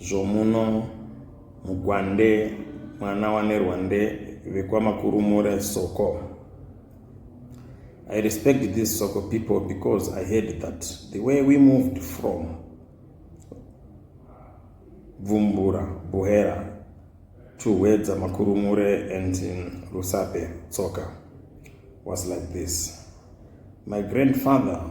zvomuno muGwande mwana waNerwande vekwaMakurumure Soko. I respect these Soko people because I heard that the way we moved from Bvumbura, Buhera to Hwedza Makurumure and in Rusape, Tsoka was like this. My grandfather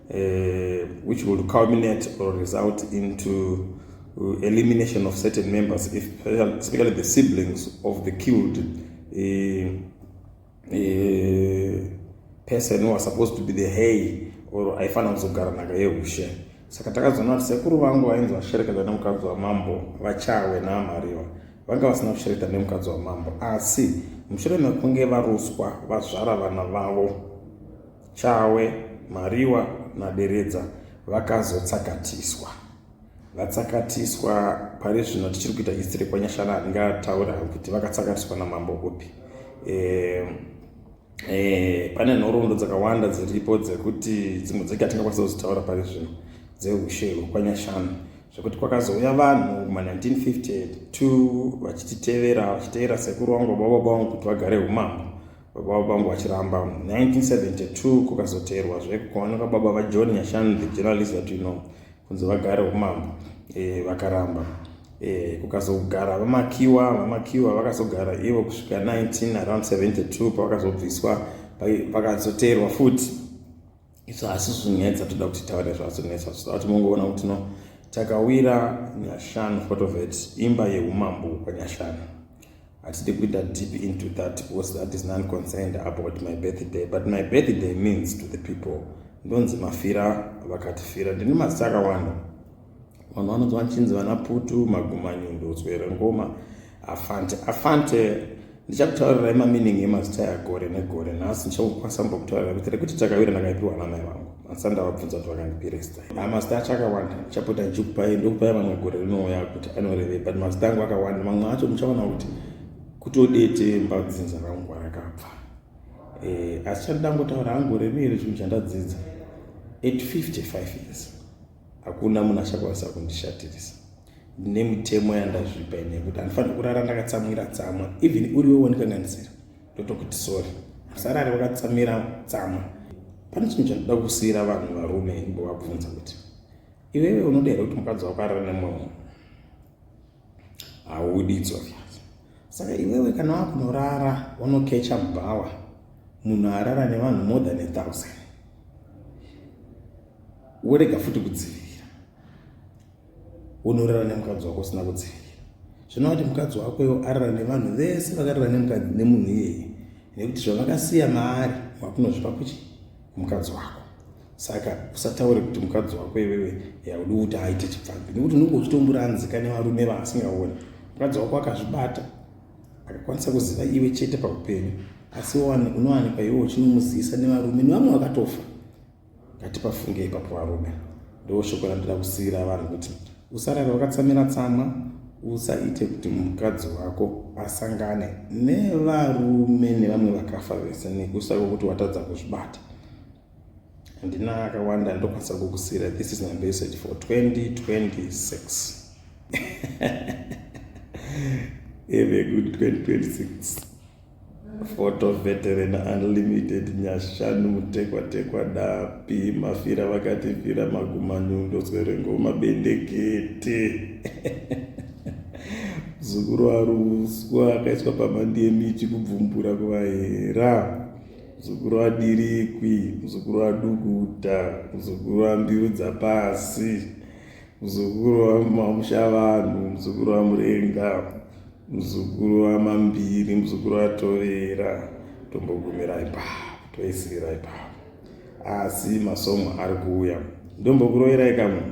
uh, which will culminate or result into uh, elimination of certain members, if, especially the siblings of the killed uh, uh, person who are supposed to be the hay or aifanira kuzogara nhaka yeushe saka takazoona kuti sekuru vangu vainzi vashereketa nemukadzi wamambo vachawe naamariwa vanga vasina kushereketa nemukadzi wamambo asi mushure mekunge varuswa vazvara vana vavo Chawe, Mariwa naDeredza vakazotsakatiswa. Vatsakatiswa pari zvino tichiri kuita history kwanyashana handingataure hangu kuti vakatsakatiswa namambo upi. Eh, eh, pane nhoroondo dzakawanda dziripo dzekuti dzimwe dzake hatingakwanisa kuzitaura pari zvino dzeushe hwekwanyashana zvekuti kwakazouya vanhu ma1952 vachititevera vachitevera sekuru wangu baba vangu kuti vagare umambo baba vangu vachiramba 1972 kukazoteerwa zvekukaoneka baba vajohn nyashanu the journalist that you know kunzi vagare umambo e, vakaramba e, kukazogara vamakiwa vamakiwa vakazogara ivo kusvika 19 around 72 pavakazobviswa pakazoteerwa futi isu asi zvinetsa toda kuti taure zvazvinetsa zvisaa kuti mongoona kuti no takawira nyashanu part of it imba yeumambo kwanyashanu hatidi kuita deep into that because that is non concerned about my birthday but my birthday means to the people ndonzi mafira vakatifira ndine mazita akawanda vanhu vanonzi vanchinzi vana putu magumanyundo tswere ngoma afante afante ndichakutaurirai mamining emazita yagore negore nhasi ndichakukwanisa mbo kutaurira kuti rekuti takawira ndakaipiwa namai vangu masa ndavabvunza kuti vakandipiresta amazita ah, acho akawanda ndichapota ndichikupai ndokupai vamwe gore rinouya kuti anorevei but mazita angu akawanda mamwe acho muchaona kuti kutodete mbadzinza rangu arakabva eh, asi chandangotaura hangu reviri chinhu chandadzidza at 55 years hakuna munhu achakwanisa kundishatirisa ndine mitemo yandazvipa ine yekuti handifaniri kurara ndakatsamwira tsamwa even uri wewo ndikanganisira ndotokuti sori asarari wakatsamira tsamwa pane chinhu chandida kusiyira vanhu varume ndovabvunza kuti iwewe unoda here kuti mukadzi wako arara nemumwe munhu haudi it's obvious saka iwewe kana wakunorara unokecha bhawa munhu arara nevanhu more than a thousand worega futi kudzivirira unorara nemukadzi wako usina kudzivirira zvinova kuti mukadzi wako iwo arara nevanhu vese vakarara nemunhu iyeye nekuti zvavakasiya maari wakunozvipa kuchi mukadzi wako saka usataure kuti mukadzi wako iwewe haudi kuti aite chipfambi nekuti unenge uchitomuranzika nevarume vaasingaoni mukadzi wako akazvibata akakwanisa kuziva iwe chete paupenyu asi unowanikwa iwe uchinomuzivisa nevarume nevamwe vakatofa ngatipafunge ipapo varume ndo shoko randida kusiyira vanhu kuti usarare wakatsamira tsamwa usaite kuti mukadzi wako asangane nevarume nevamwe vakafa vese nekusako kuti watadza kuzvibata handina akawanda andokwanisa kukusira this is my message for 2026 have a good 2026 photo veteran unlimited nyashanu mutekwatekwa dapi mafira vakatifira magumanyundo zwerengoma bendekete zukuru aruswa akaiswa pamandi yemichi kubvumbura kuvahera muzukuru wadirikwi muzukuru wadukuta muzukuru wambiru dzapasi muzukuru wamamusha vanhu muzukuru wamurenga muzukuru wamambiri muzukuru watovera tombogumira ipapo toisirira ipapo asi masomo ari kuuya ndombokuroverai kamunhu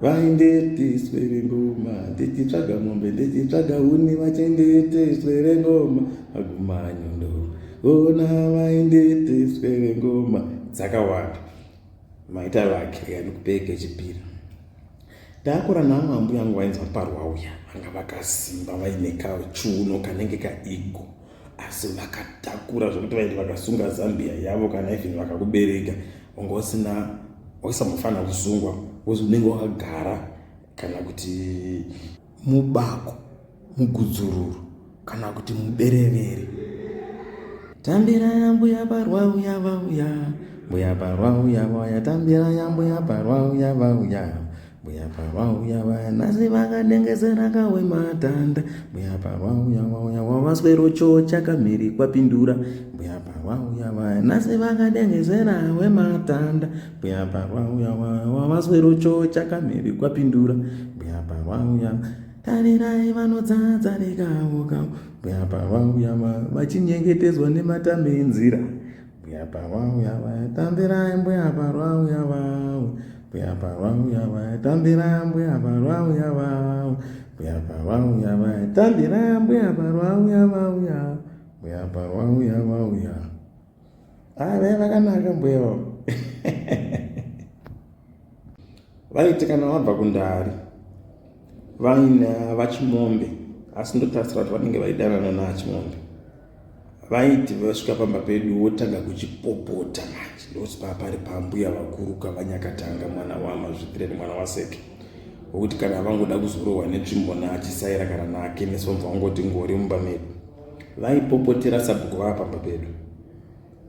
vaindetiswe rengoma ndichitsvaga mombe ndichitsvaga huni vachendetiswe rengoma agumanyondo vona vaindetiswe rengoma dzakawanda maita vake yanikupeke chipiri takura namwe ambuya yangu vainzi vaparwa uya vanga vakasimba vaine kachuno kanenge kaigo asi vakatakura zvekuti vaiti vakasunga zambia yavo kana even vakakubereka wanga usina waisambofanira kusungwa bcause unenge wakagara kana kuti mubako mugudzururu kana kuti muberevere tambira yambuya parwa uya vauya mbuya parwa uya vauya tambira yambuya parwa uya vauya mbuya pavauya vaya nhasi vakanengesera kawe matanda mbuya pavauya vauya wavaswero choo chakamhiri kwapindura mbuya pavauya vaya nhasi vakanengesera we matanda mbuya pavauya vaya wavaswero choo chakamhiri kwapindura mbuya pavauya tarirai vanodzadza rekavo kavo mbuya pavauya vaya vachinyengetedzwa nematame enzira Mbuya parwawu yavaya tambirai mbuya parwawu yavawu mbuya parwawu yavaya tambirai mbuya parwawu yavawu mbuya parwawu yavaya tambirai mbuya parwawu yavawu ya mbuya parwawu yavawu ya ah vaya vakanaka mbuya vavo vaiti kana vabva kundari vaina vachimombe asi ndotarisira kuti vanenge vaidanana naachimombe vaiti vasvika pamba pedu wotanga kuchipopota manje ndokuti paa pari pambuya vakuru kavanyakatanga mwana wamazvitireni mwana waseke wokuti kana vangoda kuzorohwa netsvimbo naachisaira kana nake nesomva wangoti ngori mumba medu vaipopotera sabhuku vava pamba pedu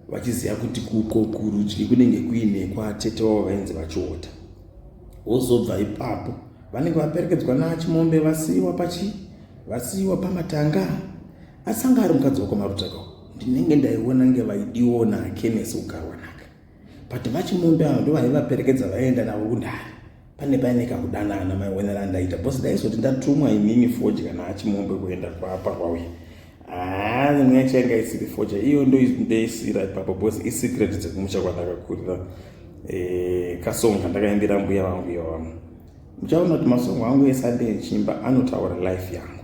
vachiziva kuti kuko kurudyi kunenge kuine kwatete wavo vainzi vachiota wozobva ipapo vanenge vaperekedzwa naachimombe vasiiwa pachi vasiiwa pamatanga asi anga ari mukadzi wakwamarutaka ndinenge ndaiona nge vaidiwo nakenes kugarwa naka but vachimombe avo ndo vaivaperekedza vaienda navo kundari pane paine kakudanana maionera andaita bcause ndaizoti ndatumwa inini foji kana achimombe kuenda kwapa kwauye haa ah, nyaya chainga isiri foja iyo ndo ndeisira ipapo bcause isecret dzekumusha kwandakakurira eh, kasong kandakaimbira mbuya vangu iyo vamwe muchaona kuti masongo angu esandeechimba anotaura life yangu